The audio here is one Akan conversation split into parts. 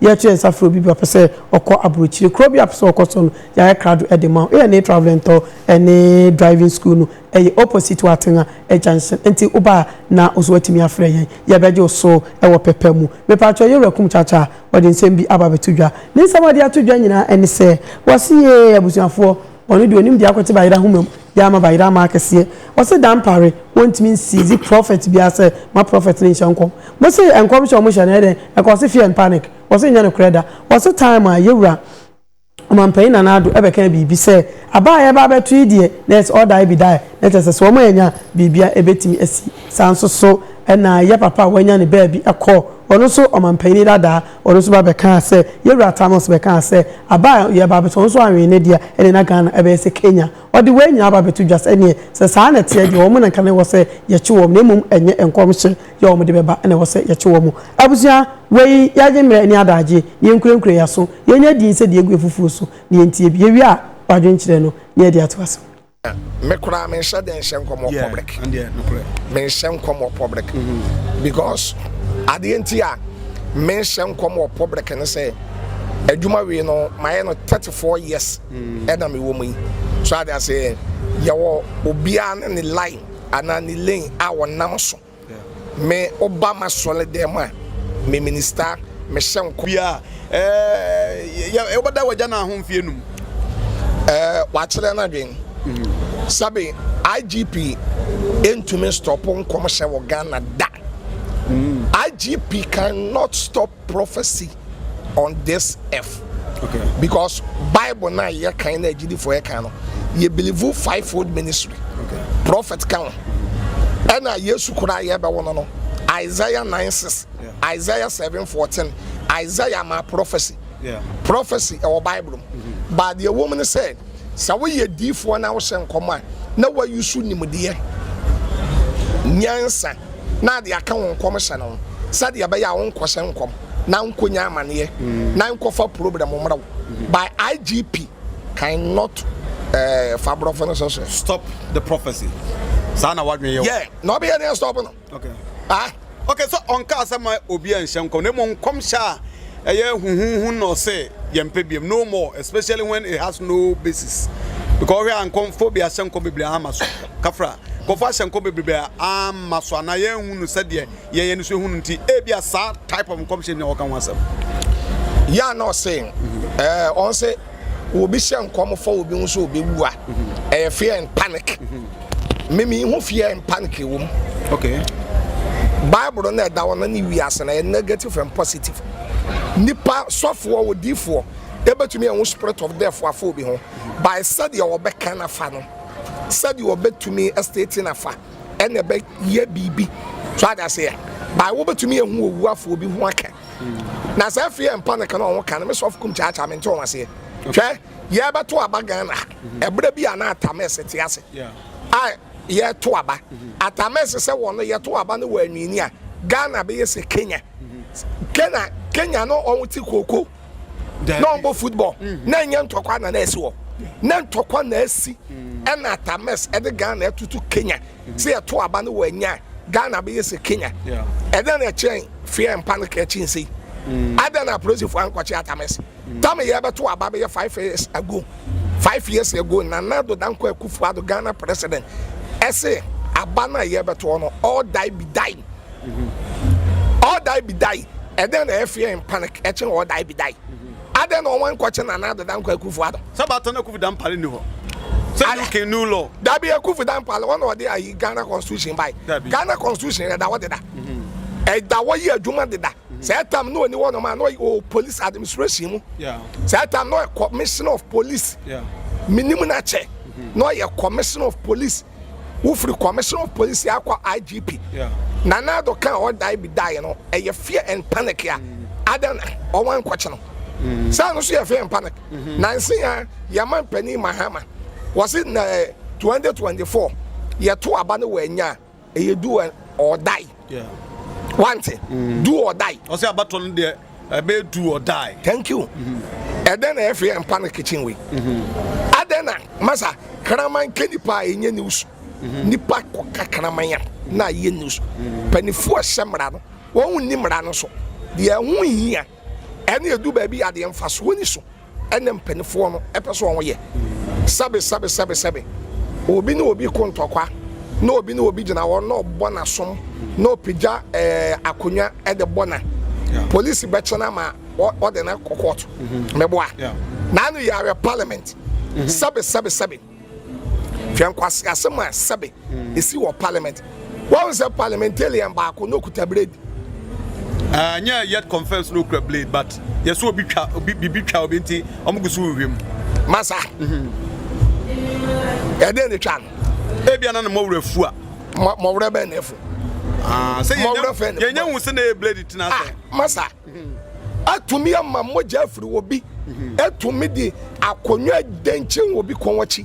Yɛreto yɛn nsa frɛ obi bi a ɔpɛ sɛ ɔkɔ aburokyire kuro bi a ɔpɛ sɛ ɔkɔ so no, yɛayɛ krado de ma wo. ANA Travel and Tour ne Driving School no yɛ opposite wɔ Atenga junction. Enti woba a na wo nso woatumi afrɛ yɛn. Yɛbɛgye wo so wɔ pɛpɛ mu. Mepakyɛw, Yɛwura Kum Kyaakyaa a, ɔde nsɛm bi aba abɛto dwa. Ne nsɛm a ɔde ato dwa nyinaa ne sɛ, Wɔse yee abusuafoɔ. Ɔno deɛ onim deɛ akɔte bayerɛ ahoma mu deɛ ama bayerɛ ama akɛseɛ ɔse dampare wɔntumi nsiizi prɔfɛt biaa sɛ ma prɔfɛt no nhyɛ nkɔm mose nkɔm hyɛ ɔmo hyɛ no ɛyɛ dɛn ɛka ɔse fear and panic ɔse nyɛ nokorɛ da ɔse time a yɛwura ɔmanpanyin nana ado ɛbɛkaa biribi sɛ aba a yɛba abɛto yi deɛ na ɛsɛ ɔda ɛbi da ɛ na kyɛsɛ sɛ ɔmo anya biribi a ɛbɛtumi asi saa nso so ɛna yɛpapa a wanya ne baabi ɛkɔ ɔno nso ɔmanpanyin dadaa Ɔno nso ba bɛkaa sɛ, yɛn wura Tamos bɛkaa sɛ, aba a yɛreba abɛtɔ no nso anwene ne dea, ɛnneɛ na Ghana bɛyɛ sɛ Kenya. Ɔde wei nyinaa aba abɛto dwa sɛ, ɛnneɛ sɛ saa na ɛteɛ deɛ, wɔn na anka na ɛwɔ sɛ yɛkye wɔn, na mmom ɛnyɛ nkɔmhyɛ yi a wɔde bɛba na ɛwɔ sɛ yɛkye wɔn. Abusua, wei yɛagye mmerɛ ɛne adagyeɛ, na yɛnkurakura yɛn aso, na yɛnnya din sɛ deɛ ɛgu afufuo so, na yɛntie bi. Yɛwie a, w'adwenkyerɛ no, na yɛde atoa so. Me koraa me nhyɛ den nhyɛ nkɔm wɔ public. Me nhyɛ nkɔm wɔ public mm-hmm. because adeɛ nti a me nhyɛ nkɔm wɔ public ne sɛ adwuma wei no mayɛ no thirty four years mm. ɛna me wɔ mu yi so ade ase yɛwɔ obiara ne ne line anaa ne lane a wɔnam so. Me woba masɔle dɛm a me minista me hyɛ nkɔm. Bia eh yɛ yɛ bɛda wagya na ho mfe enum. Eh wakyerɛ na dwen. Sɛbe IGP ntumi stop nkɔmhyɛ wɔ Ghana da. IGP can not stop prophecy on this earth okay. because bible na yɛ kan na agyidifo yɛ kan no yɛ believe five fold ministry okay. prophet kan ɛna yesu koraa yɛ bɛwɔ no no isaiah nine six yeah. isaiah seven fourteen isaiah ma prophecy yeah. prophecy ɛwɔ bible mm -hmm. but deɛ wɔn mu no sɛ. Sɛ woyɛ diyifoɔ na wohyɛ nkɔm a, na woayusu nimdeɛ, nyansa, na de aka wo nkɔmhyɛ no ho, sɛdeɛ ɛbɛyɛ a wonkɔhyɛ nkɔm na wonkɔnya amaneɛ na nkɔfa problem mmra wo. By IGP Kind Not eh, fa aborɔfo no so so. Stop the prophecy. Saa na w'adwene yɛ wo. Yeah, na ɔbɛyɛ dɛn stop no? Okay. Ah, okay, sɛ ɔnkaa sɛ ma obi a nhyɛ nkɔm, na mmom nkɔmhyɛ a ɛyɛ huhuhu na ɔsɛ yɛmpɛ biam, no more, especially when it has no basis. Because ɔhwɛ a nkɔmfo bi ahyɛ nkɔm bebree ama so. Kafra, nkɔmfo ahyɛ nkɔm bebree ama so, anaa yɛnhu no sɛdeɛ yɛn yɛn nso ehu no nti, ebi a saa type of nkɔmhyɛ bi na wɔka ho asɛm. Yeah, no, say, eh, ɔn sɛ. Obi hyɛ nkɔm fa obi ho sɛ obewu a, ɛyɛ fear and panic. Me me ho fear and panic wɔ mu. Okay. Bible na ɛda hɔ na ne wiase na ɛyɛ negative and positive. Nipa sɔfoɔ odiifoɔ ebetumi ɛho spirit of death afa obi ho by sɛdeɛ ɔbɛka nafa no sɛdeɛ ɔbɛtumi state nafa ɛna ɛbɛyɛ biribi so adaseɛ by wobɛtumi ɛho owu afa obi ho aka Na saa fie yɛ mpa ne ka na ɔho ka no me sɔfo kum kyaakyaa mente wɔn aseɛ hwɛ yɛ bɛto aba Ghana ha mm-hmm. ɛberɛ bi a na atamɛs te ase a yɛto aba mm-hmm. atamɛs sɛ wɔn no yɛto aba no wɔ anwini a Ghana bɛyɛ sɛ Kenya mm-hmm. Kenya Kenya no ɔho te kooko na ɔmbɔ football na ɛnyɛ ntɔkwa na na ɛsi hɔ na ntɔkwa na ɛsi ɛna atamɛs ɛde Ghana ɛtoto Kenya Sɛ yɛto aba no wɔ anya a, Ghana bɛyɛ sɛ Kenya. Ɛdɛn na ɛkyerɛn feɛ mpa no kra kyin sei? Adɛn na apolisifoɔ ankɔkye Atames? Tame yɛbɛto aba bɛyɛ five years ago. Five years ago, Nana Addo Dankwa Akufo Addo, Ghana President, se aba no a yɛbɛtoɔ no, all die be die. All die be die. Ɛdɛn na ɛyɛ feɛ mpa no ɛkyɛn all die be die? Adɛn na ɔnwan kɔkye Nana Addo Dankwa Akufo Addo? Sɛ baata no Akuffo Dampale nni hɔ sɛ UK new law. Dabi Akuffo Dampale wɔn na wɔde ayi Ghana constitution bae. Dabi. Ghana constitution ɛda hɔ deda. Ɛda hɔ yɛ adwuma deda. Saa tam na ɔni hɔnom a na ɔyɛ ɔwɔ police administration mu. Saa tam na ɔyɛ commissioner of police. Menim no akyɛ. Na ɔyɛ commissioner of police. Wofiri Commissioner of Police yi akɔ IGP. Nana Addo ka a ɔdae bi daeɛ no, ɛyɛ fear and panic a ada na ɔwɔ nkɔkye no. Mm. Saa no so yɛ fear and panic. Mm-hmm. Nansi ha, yɛma mpanin Mahama, wɔse na 2024, yɛto aba no wɔ anya a, ɛyɛ du ɔdae. wante mm. do or die ɔsɛ abatɔ no deɛ ɛbɛyɛ do or die thank you mm-hmm. ɛdɛn na ɛfiri ɛmpa no kitchen wei mm-hmm. adɛn na masa kraman ka nipa a ɛnyɛ news mm-hmm. nipa kɔka kraman a na ayɛ news panifoɔ ɛhyɛ mmara no wɔn nni mmara no so deɛ ɛho hia ɛne ɛdu baabi adeɛ mfasoɔ ni so ɛna mpaninfoɔ no pɛ sɛ wɔn yɛ, sɛbe sɛbe sɛbe sɛbe obi ne obi ko ntɔkwa na obi ne obi gyina hɔ na ɔbɔ n'asom na ɔpagya ɛɛ akonnwa ɛde bɔ na polisi bɛkyɛ na ma ɔde na kɔ kɔɔto mɛboa na ano yɛ awɛ parliament sɛbe sɛbe sɛbe. Hwɛ nkwaseasɛm a sɛbe esi wɔ parliament. Wɔn sɛ parliamentarian baako na okuta blade. Ah, nyɛ yet confirms no kura blade but yɛ so obi twa obi bibi twa obi nti wɔn gu so wihwɛ mu. Masa. Ɛdɛn ne twa no? Ebi anan na mɔwura fu a. Mɔwura bɛn na efu? Ah, sɛ yɛnyɛ hu sɛ na yɛ blade tena sɛ. Ah, masa. atumi ama mogya afiri obi, atumi de akonnwa denkyen obi kɔn akyi.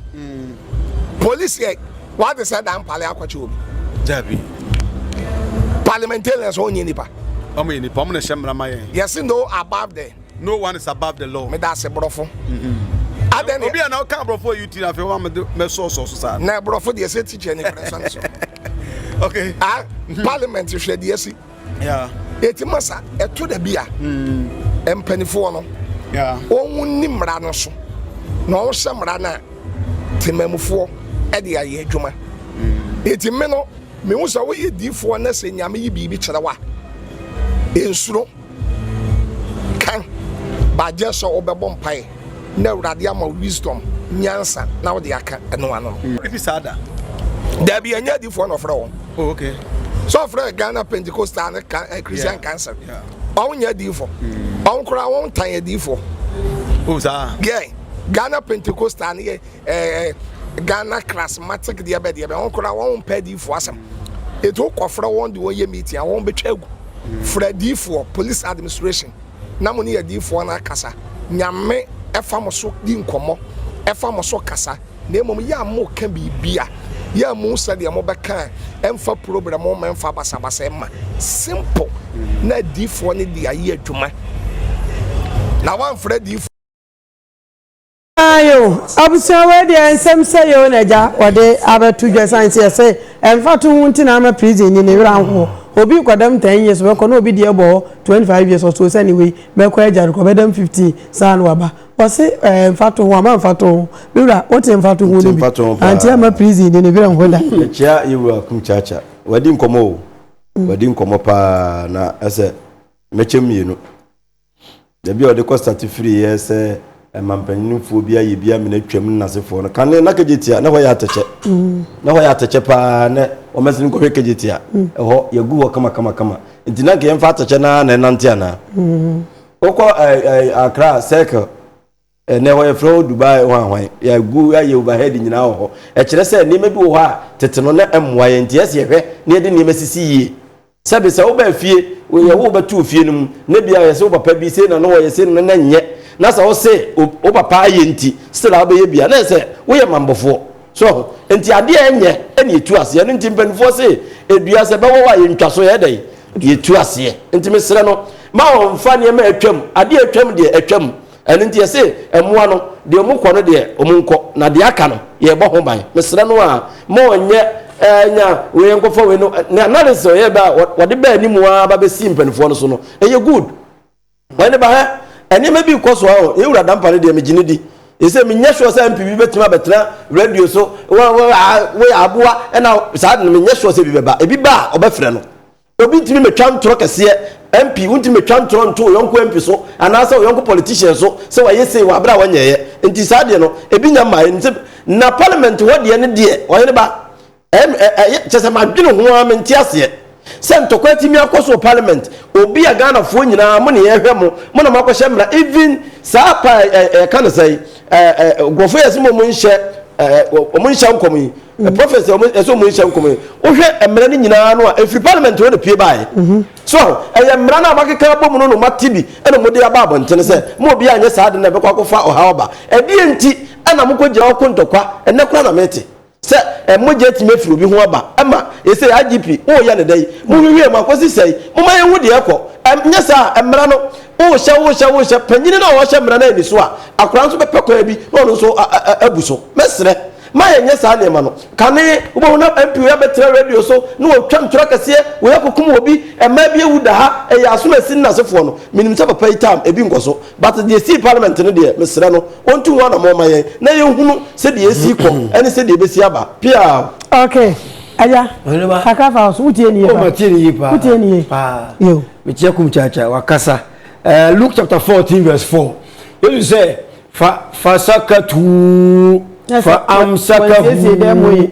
Polisi ɛ, wade sɛ da mpale akɔkye obi. Dabi. Parliamentarians wɔn nyɛ nipa. Wɔn yɛ nipa, wɔn na ɛhyɛ mmara ma yɛn. Yɛsi no above the. No one is above the law. Meda ase borɔfo. Mm-hmm. Adɛn ne. Obi a na ɔka borɔfo yi ti na afei wɔn a mɛsɔɔsɔɔ so saa. Na borɔfo deɛ sɛ tikya ne kura sɔn so. Okay. Ah, mm-hmm. parliament hwɛ deɛ si. ɛti ma sa ɛto da bi a mm. mpanifoɔ no wɔn ni mmara no so na wɔn hyɛ mmara no a temamufoɔ ɛde ayɛ adwuma ɛti mm. me no mehu sɛ woyɛ diifoɔ na sɛ nyame yi biribi kyerɛ wa ɛnsuro kan baagye sɛ wobɛbɔ mpaeɛ Na Awurade ama wo wisdom, nyansa, na wode aka ɛno ano. Efi saa da. Dabi, ɛnyɛ adifoɔ na ɔfrɛ wɔn. Oh, okay. So ɔfrɛ Ghana Pentecostal ne eh, Christian yeah. Council. Yeah. Ɔn nyɛ adifoɔ. Mm. Ɔn koraa wɔn tan adifoɔ. Oh, saa. Yeah. Ghana Pentecostal ne yɛ eh, eh, Ghana Charismatic deɛ bɛ deɛ bɛ. Ɔn koraa wɔn mpɛ adifoɔ asɛm. Etu kɔfrɛ wɔn de wɔn yɛ meeting a wɔn bɛtwa agu. Mm. Frɛ adifoɔ, police administration. na mo ne adiyifoɔ no akasa, Nyame fa mo so di nkɔmmɔ, fa mo so kasa, na mmom yɛ a mo ka biribi a, yɛ a mu sɛdeɛ mo bɛka a ɛmfa probrɛm mma ɛmfa basabasa mma, simple, na adiyifoɔ no de ayɛ adwuma, na wɔamfrɛ adiyifoɔ. Ayo, abusua wei deɛ nsɛm sɛ yɛ o na agya wɔde abɛto dwa san sɛ yɛsɛ ɛmfa to ho nti na ama prison ni ne werɛ anhoɔ obi kɔdam 10 years bɛkɔ na obi deɛ bɔ hɔ 25 years ɔsoo sɛ ne wei bɛkɔ agya rekɔ bɛdam 15 saa na waba wɔse ɛɛ mfa to ho ama mfa to ho me wura wote mfa to ho no bi anti ama prison ni ne werɛ nho da ɛkyia yɛwura kum kyaakya wadi nkɔmmɔ o wadi nkɔmmɔ paa na ɛsɛ mɛkyɛ mmienu Baabi a ɔde kɔ start firi yɛ sɛ ɛma mpanyinfoɔ bi ayɛ bi amena twam ne n'asefoɔ no kane na kagyetia na hɔ yɛ atɛkyɛ mm. na hɔ yɛ atɛkyɛ paa na wɔmɛsi no nkɔhwɛ kagyetia mm. ɛhɔ yɛgu hɔ kama kama kama nti na nka yɛmfa atɛkyɛ na na ɛnante anaa mm. wokɔ akra circle Ɛnnɛ wɔfrɛ hɔ Dubai hwanhwan. Yɛagu ayɛ overhead nyinaa wɔ hɔ. Ɛkyerɛ sɛ nneɛma bi wɔ hɔ a tete no na ɛmmoa yɛn. Enti ɛsɛ yɛhwɛ na yɛde nneɛma sisi yie. Sɛbe sɛ wobaa fie, woyɛ wo bɛto wo fie no mu, na ebia yɛse wo papa bi sei na na ɔyɛ, sei na na ɛnyɛ, na sɛ wose wo papa ayɛ nti still a wobɛyɛ bi a, na ɛyɛ sɛ woyɛ mammɔfoɔ. So ahu? Enti adeɛ a ɛnyɛ na yɛtu aseɛ. Ɛno nti mpanimfoɔ se dua sɛ ɛbɛwɔw a yɛntwa so, yɛyɛ dɛn? Yɛtu aseɛ. Enti mesrɛ no, mma ɔmmfa nneɛma a atwam, adeɛ a atwam deɛ, atwam. Ɛno nti yɛse mmoa no, deɛ ɔmo kɔ no deɛ ɔmo nkɔ, na deɛ aka no yɛbɔ ho ban. Mesrɛ no aa mma ɔnyɛ ɛɛ nya wei nkɔfa wei no, ne analysis a ɔyɛɛ bɛ a ɔde baa anim aa aba bɛsii mpaninfoɔ no so no, ɛyɛ good. Ɔyɛ ne ba hɛ, nneɛma bi rekɔ so aa o, yɛn Wura Dampah no deɛ megye no di. Yɛse menyɛ sure sɛ MP bi bɛtumi abɛtena radio so, wo wo aa woyɛ aboa ɛna saa de no menyɛ sure sɛ ebi bɛba. Ebi ba a ɔbɛfrɛ no. Obi ntumi mɛtwa ntorɔ kɛseɛ MP wontumi mɛtwa ntorɔ nto wo yɔnko MP so anaasɛ wo yɔnko politician so sɛ wayɛ sei wɔ aberɛ a wanyɛeɛ nti saa deɛ no ebi nya mmaeɛ no sɛ na parliament hɔ deɛ no deɛ ɔhene ba ɛm ɛ ɛyɛ kyɛ sɛ madwene ho ara mente aseɛ sɛ ntɔkwa atumi akɔ so wɔ parliament obi a Ghanafoɔ nyinaa mo ne yɛhwɛ mo mo na moakɔhyɛ mmara even saa pa ɛ ɛka no sɛe nkurɔfo yɛ sɛ wɔn nhyɛ wɔn nhyɛ nkɔm yi mm. prophets wɔn ɛsɛ wɔn nhyɛ nkɔm yi wohwɛ mmerɛ no nyinaa no a efiri parliament hɔ na pie baayɛ mhm. so ɛyɛ mmerɛ no a wakeka abɔ mu no na wɔn ati bi ɛna wɔn de aba abɔnten sɛ mo obi anyɛ saa de na ɛbɛkɔ akɔfa ɔhaw aba ɛdeɛ nti ɛna mo kɔ gyina hɔ ko ntɔkwa ɛnɛ kora na mɛte. Sɛ mogya tumi firi obi ho aba ma ɛsei IGP woreyɛ no dɛn? Monhwehwɛ mu akɔsi sɛn? Momma yɛnhu deɛ ɛkɔ. Ɛnyɛ saa a mmara no worehyɛ worehyɛ worehyɛ panyini no a ɔrehyɛ mmara no anni so a akwadaa nso bɛpɛ kwan bi na ɔno nso abu so. Mɛsrɛ ma yɛnyɛ saa nneɛma no kane. Wobɛhu na MP wei abɛtena radio so na watwa ntorɔ akɛseɛ, wei akɔkum obi, mmaa bi awu da ha, ɛyɛ asom a ɛsi nnasefoɔ no. Menim sɛ papa yi tam ebi nkɔso. But deɛ ɛsii parliament no deɛ mesrɛ no ɔntu ho anamɔn ma yɛn na yɛnhunu sɛdeɛ ɛsii kɔ ɛne sɛdeɛ ɛbɛsi aba piaa. Okay agya kakra fa so wotie nie pa wotie nie pa wotie nie pa yo metia kum chacha wakasa uh, Luke chapter 14 verse 4 yesu sɛ fa fasakatu fa amsakahu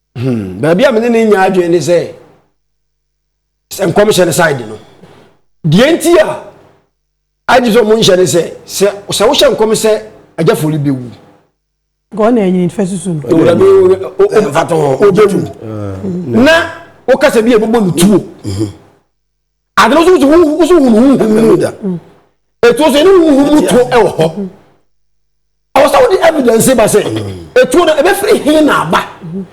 Hmm, baabi a me ne ne nya adwene ne sɛ sɛ nkɔmhyɛ no side no deɛ nti a agye sɛ ɔmo nhyɛ ne sɛ sɛ sɛ wohyɛ nkɔm sɛ agya fori bɛwu gɔɔ na ɛnyini fɛ susu no owurade ɔbɛwu na wokasa bi a ɛbɛbɔ no tuo ade no nso wo nso hunu honhom mu ɛtuo sɛ ɛne honhom mu tuo ɛwɔ hɔ ɛwɔ sɛ wode evidence ba sɛ ɛtuo no ɛbɛfiri he na aba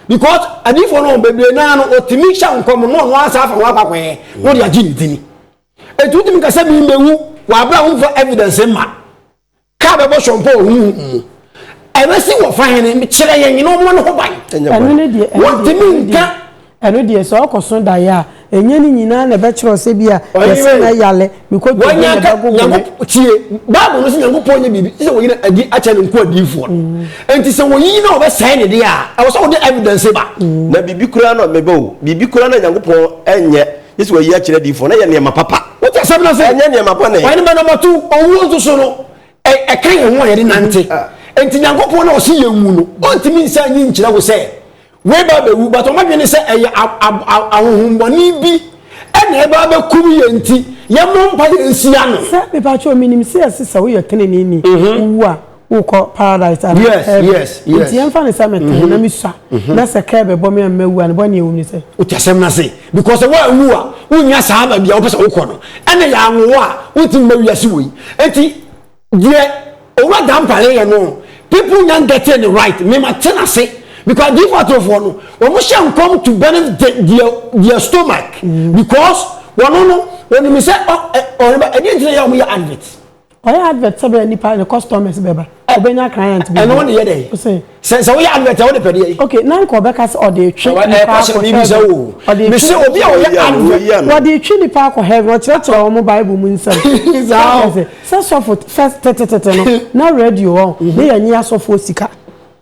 because adiifoɔ no bebree naa no ɔtumi hyɛ nkɔm no ɔno asa afa ho akwakwɛɛ na ɔde agye ne dini ɛtu wotumi ka sɛ membɛwu wɔabrɛ a womfa evidence ma Ka bɛbɔ soɔmpa wɔ honhom mu. Ɛbɛsi wɔ fa hene, kyerɛ yɛn na ɔmmɔ ne ho ban. Ɛno ne deɛ, ɛno deɛ, ɛno deɛ, ɛno deɛ sɛ ɔkɔso daeɛ a, ɛnyɛ ne nyinaa na ɛbɛkyerɛ ɔsɛ bi a yɛsɛ na yale mekɔ tuo ne bago gome. Tie, Bible no sɛ Nyankopɔn nyɛ biribi sɛ wɔyi no adi akyɛ ne nkoa diifoɔ no. Mm. Enti sɛ wɔyiyi na wɔbɛsɛe ne deɛ a, ɛwɔ sɛ wɔde evidence ba. Mm. Na biribi koraa na ɔbɛba o, biribi koraa na Nyankopɔn nyɛ. Yesu ayi akyerɛ adiyifoɔ no yɛ nneɛma papa. Wote asɛm no ase? Ɛnyɛ nneɛma bɔne. Wɔn ma no mato owuo nso so no, ɛka yɛn ho a yɛde nante. Enti Nyankopɔn no a ɔse yɛn wu no, ɔntumi nsa nyi nkyerɛ wo sɛ weba abɛwu, but ɔmadwene sɛ ɛyɛ ahohommɔne bi ɛna ɛba abɛkum yɛn nti yɛmmɔ mpa yɛn nsia no. Sɛ, mepatwɛ, menim sɛ yɛse sɛ woyɛ tenenee ni, wowu a, wokɔ paradise anaa Yes, heaven. yes, Nti yes. yɛmfa no sɛ metee na misua na sɛ kaa bɛbɔ me a mawu a, ne bɔne a ɛwom ne sɛ. Wote asɛm no ase? Because sɛ woanwu a, wonnya saa baabi a wopɛ sɛ wokɔ no. Ɛnna yɛanwo wo a, wontumi mma wiase wei. Enti deɛ Owura Dampare yɛ no, people nya getting it right. Me mate no ase. Because Adiifo atorofoɔ no, wɔhyɛ nkɔm to benefit their, their stomach. Because wɔn no, wɔnim sɛ, ɔ, ɛ, ɔhene ba, ɛdeɛ nti na ɛyɛ a wɔyɛ advert? Ɔyɛ advert sɛ bɛyɛ nipa ne customers bɛba ɔbɛnya client bi. Ɛno ne yɛ dɛ. Ose. Sɛ sɛ woyɛ advert a wode pɛdeɛ yi. Okay na nka ɔbɛka sɛ ɔde etwe nipa akɔ heaven. Ɛkɔsɛ mi bisa o. Ɔde etwe. Mese obi a ɔyɛ advert. Wɔde etwe nipa akɔ heaven ɔkyerɛkyerɛ wɔn mo bible mu nsɛm. Saa o. Sɛ sɔfo fɛ tetetete no na radio wɔn ne yɛ nye asɔfoɔ sika.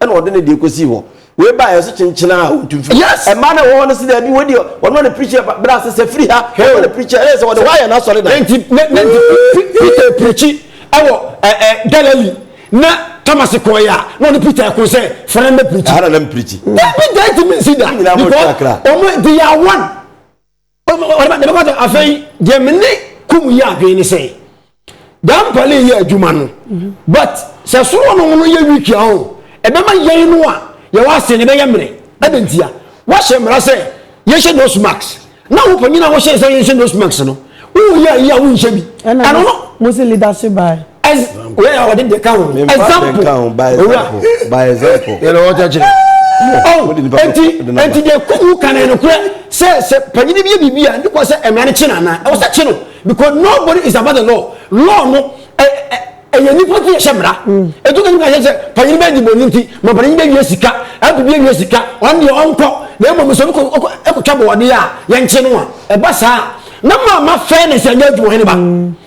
ɛna ɔde ne deɛ kɔsii hɔ wei ba ɛso kyenkyenaa ɔntu mfiri yes ɛma na ɛwɔ hɔ no si daabi wei deɛ ɔno ɔne preacher bra sɛ sɛ firi ha ɔno ɔne preacher ɛyɛ sɛ ɔde wayɛ n'asɔre dan nti nti peter preachi ɛwɔ ɛɛ galilee na thomas kɔɛ a na ɔne peter ɛko sɛ fana mbɛ preachi ɛhana na mpreachi peter ɛti mi nsi da because ɔmo they are one ɔde bɛkɔ sɛ afei deɛ me ne kum yi adwene ne sɛ daa mpale yɛ adwuma no mhm. but sɛ soro no no yɛ wiki a o ɛbɛma yɛn no a yɛwɔ ase no ɛbɛyɛ mmerɛ ɛde ntia wahyɛ mmara sɛ yɛhyɛ nose mask na wo panyin a wɔhyɛ sɛ yɛhyɛ nose mask no woyɛ ayi a wonhyɛ bi ɛno no mo se leadership by as wei a wɔde deɛ ka ho example owura by example yɛlɛ wɔn kyɛ kyerɛ ɔn eti eti deɛ kuku kan yɛn korɛ sɛ sɛ panyin bi yɛ biribi a ne kɔ sɛ mmara ne kye na anan ɛwɔ sɛ kye no because nobody is above the law law no ɛ ɛ ɛyɛ nipa ti yɛ hyɛ mmara etu ka nipa yɛ sɛ panyin bɛ di bɔ ne ti ma panyin bɛ wie sika ɛpu bi wie sika ɔn deɛ ɔnkɔ na emu muso ɛkɔ ɛkɔ ɛkɔ twa bɔ ɔde a yɛn kye no a ɛba saa na maa ma fɛn ne sɛ ɛnyɛ adwuma hɛn ba.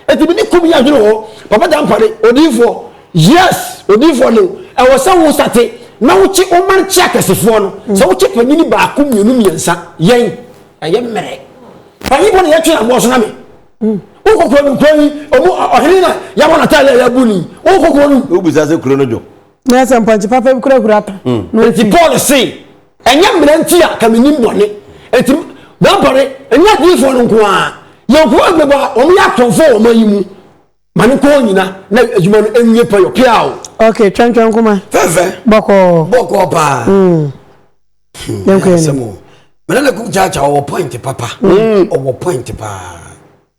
Eti me ne kommyɛ adwene wɔ hɔ. Papa Dampare, Odiyifoɔ, Yes, Odiyifoɔ Lew, ɛwɔ sɛ wo sate na wo kye wo man kye akɛsefoɔ no. Sɛ wo kye panyini baako, mmienu, mmiɛnsa, yɛn, ɛyɛ mmerɛ. Panyinfoɔ na yɛtwe aboɔ so na me. Wo kɔ kuro no, kuro yi, ɔmo, ɔhene na yɛabɔ n'ataade a yɛabu no yi, wo kɔ kuro no mu. Wo bisa sɛ kuro no dwo. na sɛ mpɔnkye papa bi kura hura ta hmm. na ɔti paul se ɛnyɛ mmerɛ nti a ka menim bɔne ɛnti mɛbɔne ɛnyɛ adiyifoɔ no nko a yɛnko agbɛbɔ a wɔn yɛ atorɔmfoɔ wɔn ayi mu ma ne kɔɔ nyina na adwuma no ɛnyɛ pɛyɔ pia o ok twɛntwɛn koma fɛfɛ bɔkɔɔ bɔkɔɔ paa hmm. hmm, yɛnkɔ yɛn mene na kum kyaakyaa ɔwɔ point papa ɔwɔ point paa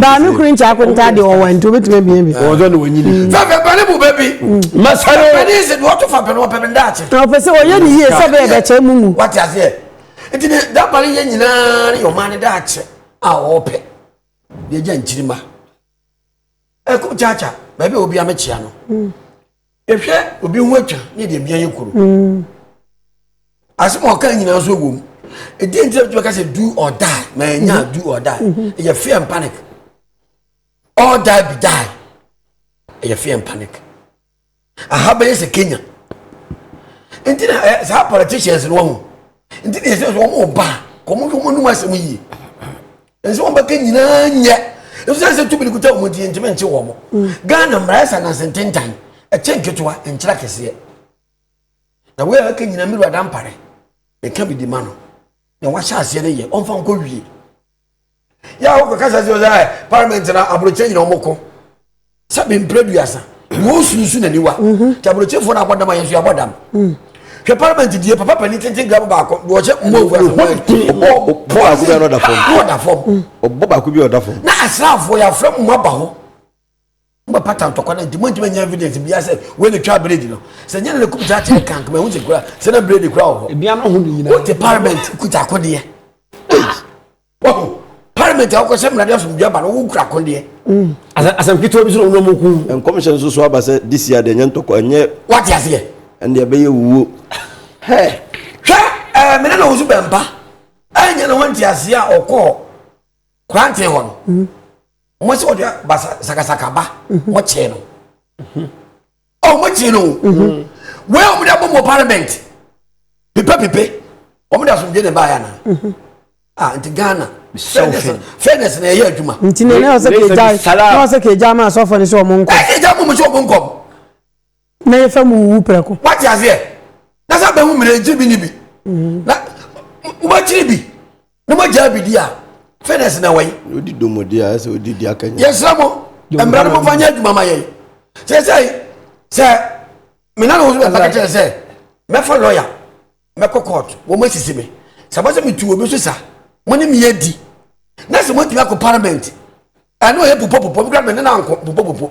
baame koro nkyɛ akonta deɛ ɔwɔ nti wobɛtumi abia bi ɔpɛ sɛ ɔyɛ ne yie sɛ bɛyɛ bɛkyɛ mu mu nti ne dabare yɛ nyinaa ne yɛ ɔma ne daakyɛ a ɔpɛ deɛ gya nkyirima ɛkɔ kyaakya baabi a obi amekyea no yɛhwɛ obi ho atwa ne yɛde abia yɛ kuro asɛm a ɔka nyinaa nso wɔ mu ɛdi nti a bɛka sɛ do or die ma ɛnya do or die ɛyɛ fear and panic all die be die ɛyɛ fear and panic aha bɛyɛ sɛ kenya nti na ɛ saa politicians no wɔn nti na yɛsɛ wɔn mo ba kɔn mo wɔn anum asɛm yie nsɛ wɔn bɛka nyinaa nyɛ nso sɛ tumi kuta wɔn ti ntumi nkye wɔn mo ghana mmerɛ sɛ nansi ntentan ɛkyɛ nketewa nkyerɛ kɛseɛ na wɔyɛ ɛka nyinaa mmiri wada mpare ɛka bi di ma no na wɔahyɛ aseɛ no yɛ wɔn fa nkɔ wie. yɛ a wokɔkasa sɛ ɔsɛ parliament na aborɔkyɛ nyina wɔmɔkɔ sɛ bemprɛ duasa wɔsusu n'aniwa mhm. nti aborɔkyɛfoɔ no abɔ dam a yɛnso yɛabɔ dam mm. hwɛ parliament die papa pani tenten graba baako wɔhyɛ mmɔfu asɛmɔda fam ɔbɔ baako bi ɔda fam na asraafoɔ yɛafrɛ mu ma ba hɔ Mo pata ntɔkwa no nti mo ntumi nya evidence bia sɛ wei na twa bredi no. Sɛ nyɛ na ne kum gya kyerɛ kan kama ehu sɛ kura sɛ na bredi kura wɔ hɔ. Ebia no ho ne nyinaa. Wote parliament kuta akodeɛ. Wahu parliament a wokɔhyɛ mmara de asomdwe aba no wokura akodeɛ. Mm. Asɛm ketewa bi so na wɔn mu ku. Nkɔmhyɛ nso so aba sɛ this year deɛ nyɛ ntɔkwa ɛnyɛ. Wate aseɛ. Ɛndeɛ ɛbɛyɛ wuo. Hɛ. Hwɛ ɛɛ mene na wɔn so bɛmpa. Ɛnyɛ na wɔn nti aseɛ a ɔkɔɔ kwanten hɔ no. Mm. mo sɛ wɔde ba sakasaka ba mo kyee no ɔ mo kyee no wei a wɔde abɔ mo parliament pipe pipe wɔde asomdwe ne baayɛ na ah nti ghana fairness na ɛyɛ adwuma nti na ɛyɛ sɛ kegya na ɔsɛ kegya ma asɔfo ne sɛ ɔmo nkɔ ɛgya mo mo sɛ ɔmo nkɔ Na yɛfa mu wuwu prɛko. Wate aseɛ? Na sɛ bɛhu mmerɛ nti bi ne bi. Na moakyiri bi, na moagyaa bi di a, fitness na wai. Na odi domo di a, ɛsɛ odi di aka nyɛ. Yɛsrɛ mo, mmra no momfa nyɛ adwuma ma yɛn. Seesei, sɛ me nana wo so bɛfa ka kyerɛ sɛ, mɛfa lɔya, mɛkɔ court, wɔn asisi me. Sɛ ɛba sɛ metu obi so sa, mo ne me adi. Na sɛ moatumi akɔ parliament, ɛne ɔyɛ popɔpopɔ, me kora me nana nkɔ popɔpopɔ.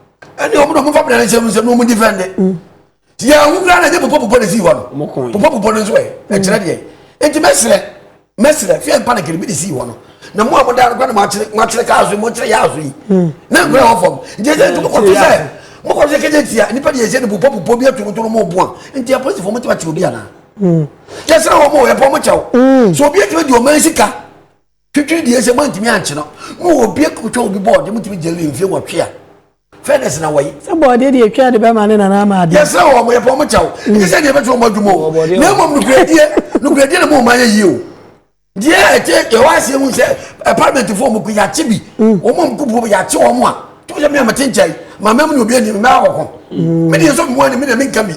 ɛne ɔmo na ɔmo fa bena nsɛm nsɛm na ɔmo difɛnde mm. ti yɛ ahu kura na nye popɔ popɔ na esi hɔ no popɔ popɔ no nso ɛ mm. ɛkyerɛ deɛ eti mɛsrɛ mɛsrɛ fia mpa na kiribi de si hɔ no na mo a mo da no kura na mo akyerɛ mo akyerɛ kaa so yi mo akyerɛ yaa so yi mm. na nkura wɔ fam nti ɛsɛ nti mo kɔto sɛ mo kɔto sɛ kɛnyɛ tia nipa de yɛ sɛ ne popɔ popɔ bi aturuturu mo bu a nti apolisifoɔ mo ti ma ti obi anaa yɛsrɛ wɔn mo yɛpɔ mo kyɛw so obi atumi di ɔman sika Twitwi deɛ sɛ moantumi ankye no na obi kɔtwa obi bɔɔde motumi gya wie mfie wɔtwe a fairness na wɔyi. sɛ bɔɔdeɛ deɛ ɛtwa de bɛma ne nana ama adeɛ. yɛsrɛ wɔ wɔyɛpɛ wɔn kyɛw ɛnyɛ mm. sɛ deɛ ɛbɛtwe wɔn adwuma o na mmom nokorɛdie nokorɛdie na moma yɛ yie o deɛ ɛkyɛ ɛwɔ aseɛ hu sɛ parliament foɔ mu ko yɛakye bi mm. wɔn a mkupuo bi yɛakye wɔn a tumi sɛ mmea mete nkyɛn maame mu na obi anim mmea wɔko mm. me deɛ nso mmoa ne me na menka bi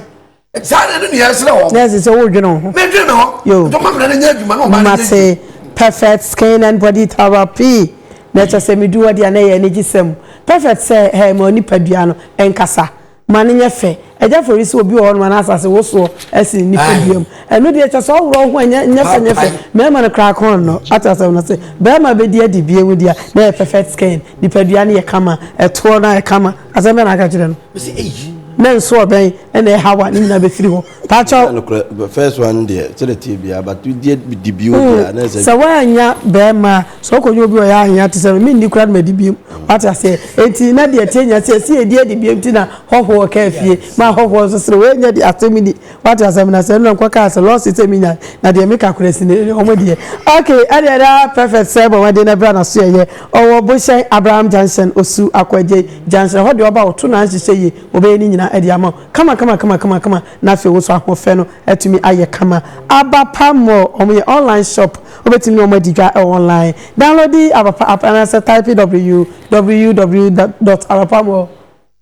saa na ɛno nea ɛsrɛ wɔn. na ɛsɛ sɛ wodwene wo ho. medwene me ho. yo dɔma mmara no nyɛ adwuma na ɔma no nyɛ yie. perfect skin and body therapy na ɛkyɛ sɛ medu hɔ deɛ na ɛyɛ anigye sɛm perfect sɛ hɛ ma onipadua no ɛnkasa ma no nyɛ fɛ agya fori sɛ obi wɔ hɔ no ma no asase wosoɔ asi ne nipadua mu ɛno deɛ kyɛ sɛ ɔworɔ ho ɛnyɛ nyɛ fɛ nyɛ fɛ mmarima no koraa kɔn no ate asɛm no sɛ barima bɛdi adi bie mu deɛ na ɛyɛ perfect skin nipadua no yɛ kama ɛtoɔ no ayɛ kama asɛm bɛ na aka kyerɛ no Mese eyi. Na nso ɔbɛn ɛna ɛha wa ne nyinaa bɛfiri hɔ. Pakyɛw. Nokorɛ first one deɛ sɛdeɛ tie biara but deɛ di bio deɛ na ɛsɛ. Sɛ woannya bɛɛma a sɛ wokɔnya obi ɔyɛ anyɛ te sɛ me menni koraa na madi biam wate aseɛ enti na deɛ ɛteɛ nya sɛ ɛsi ɛdi adi biam ti na hɔhoɔ kaa fie ma hɔhoɔ nso sere woannya di asɛm ni Wate asɛm no ase ɛno na nkɔ kaa sɛ lawsuit sɛ menya na deɛ meka korɛ si ne ɔmo deɛ. Ok ɛdeɛ na prefect sɛ bɔ mmɔden na bra naso yɛyɛ ɔwɔ bohyɛn Abraham junction osu akwagye junction ɛhɔ deɛ ɔba ɔto na nhyehyɛ yie ɔbɛyɛ ne nyinaa ɛde ama wo kama kama kama kama kama na afei woso ahoɔfɛ no atumi ayɛ kama Abapa mall ɔmo yɛ online shop wobɛtumi ne ɔmo adi dwa ɛwɔ online downloadi Abapa app anaasɛ type www dot abapamall.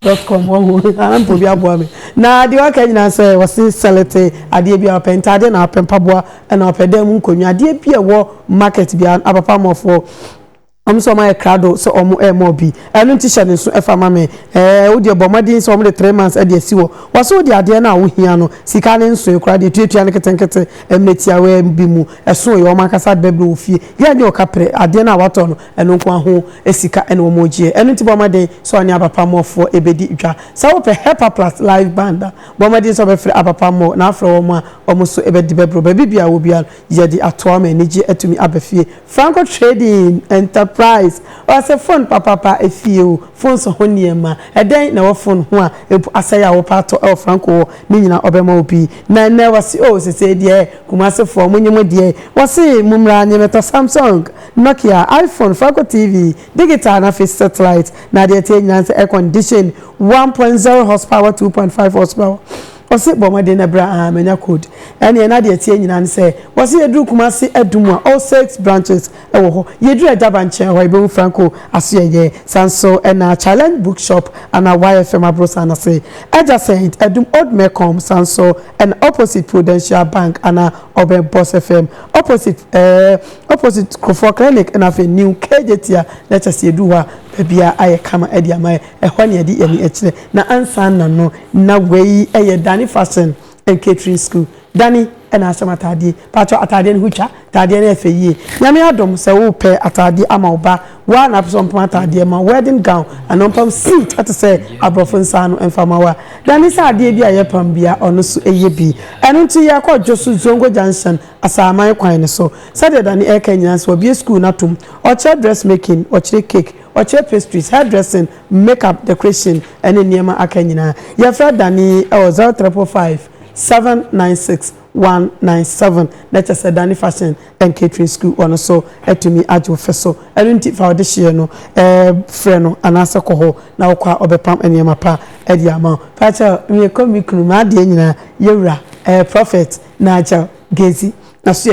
Dot com wɔ ho anaa mpo obi aboa me na deɛ waka nyinaa nsɛ wɔse sɛlete adeɛ bi a wopɛ ntaadeɛ na wopɛ mpaboa na wopɛ dan mu nkonnwa adeɛ bi a ɛwɔ market bia apapa mɔfoɔ wɔn nso wɔn ayɛ krado sɛ wɔn ɛrema obi ɛno nti hyɛ ne nso ɛfa ma me ɛɛ wo deɛ bɔ mmɔden sɛ wɔn de three months ɛde asi wɔ wɔso wo de adeɛ no a wohia no sika ne nsoe koraa deɛ tuatua no ketenkete mmerɛ tiawaa bi mu ɛso yɛ wɔn ankasa de bɛbrɛ wɔ fie yɛ nyɛ ɔka pere adeɛ no a watɔ no Ɛno nko ara ho sika na wɔregye. Ɛno nti bɔ mmɔden sɛ wo ne Abapammɔfoɔ bɛdi dwa. Sɛ wopɛ Helper Plus Live Band a, bɔ mmɔden sɛ wobɛfrɛ Abapammɔ na afrɛ wɔn a wɔn nso bɛde bɛboro baabi biara a wɔ biara no. Yɛde atoa ma anigyeɛ atumi aba fie. Franco Trading Enterprise wɔse fon papaapa fie oo, fon so ho nneɛma, ɛdɛn na ɛwɔ fon ho a mpo asɛe a wopɛ atɔ wɔ Franco hɔ ne nyinaa ɔbɛma wo bi. Na ɛnnɛ wɔse oo sesei deɛ Kumasefoɔ monye mo deɛ. Wɔse mommra nyemɛtɔ Samsung. Nokia, iPhone, Phoco TV, digital na afei satellite na adeɛ ɛteɛ nyinaa nsɛ air condition one point zero horsepower two point five horsepower ɔse bɔ mmɔden na bra aa manya code ɛneɛ na adeɛ ɛteɛ nyinaa nsɛ wɔse yɛduru Kumasi Adum a all six branches ɛwɔ hɔ yɛduru Agyaba nkyɛn hɔ yɛbɛhu Franco Asoɛyɛ saa nso ɛna Challenge book shop ana YFM abrosan ase adjacent Adum Old Mecom saa nso ɛna opposite Prudential Bank ana ɔbɛn Boss FM opposite ɛɛ Opposite Kuffour Clinic ɛna afei New KJT a na kyerɛ sɛ yɛduu hɔ a baabiara ayɛ kama ɛde ama yɛ, ɛhɔ na yɛde yɛn ani ɛkyerɛ. Na ansa na no na wei ɛyɛ Dani Fashion and Catering School. Dani ɛna ahyɛ m'ataadeɛ. Paatwɔ ataadeɛ no ho twa, ataadeɛ no yɛ fɛ yie. Nyame adom sɛ wo pɛ ataadeɛ ama wo ba, wo ara na wopɛ sɛ ɔmpam ataadeɛ ma wo, wedding gown, anaa ɔmpam suit ɛte sɛ aborɔfo nsa ano ɛmfa ma wo a, Dani sɛ adeɛ bi a yɛpam biara ɔno nso ɛyɛ bi. Ɛno nti yɛkɔ Dwosu, Zongo Junction, asaman kwan no so. Sɛdeɛ Danny reka nyinaa nso, wabue sukuu no atom. Ɔkyerɛ dressmaking, ɔkyerɛ cake, ɔkyerɛ pastries, hairdressing, makeup, decoration, ne nneɛma aka nyinaa. Yɛfrɛ Danny wɔ zero triple five, seven nine six, one nine seven na kyerɛ sɛ Danny Fashion and Catering School wɔ no so atumi agye wo fɛ so. Ɛno nti fa wo dehyeɛ no frɛ no anaasɛ kɔ hɔ na wokɔ a ɔbɛpam nneɛma pa. de ama wo. Fa kyɛw, mekɔ me kunu, m'adeɛ nyinaa, yɛwura, ɛɛ, Prɔfɛt Nigel Gezi, n'asoɛeɛ.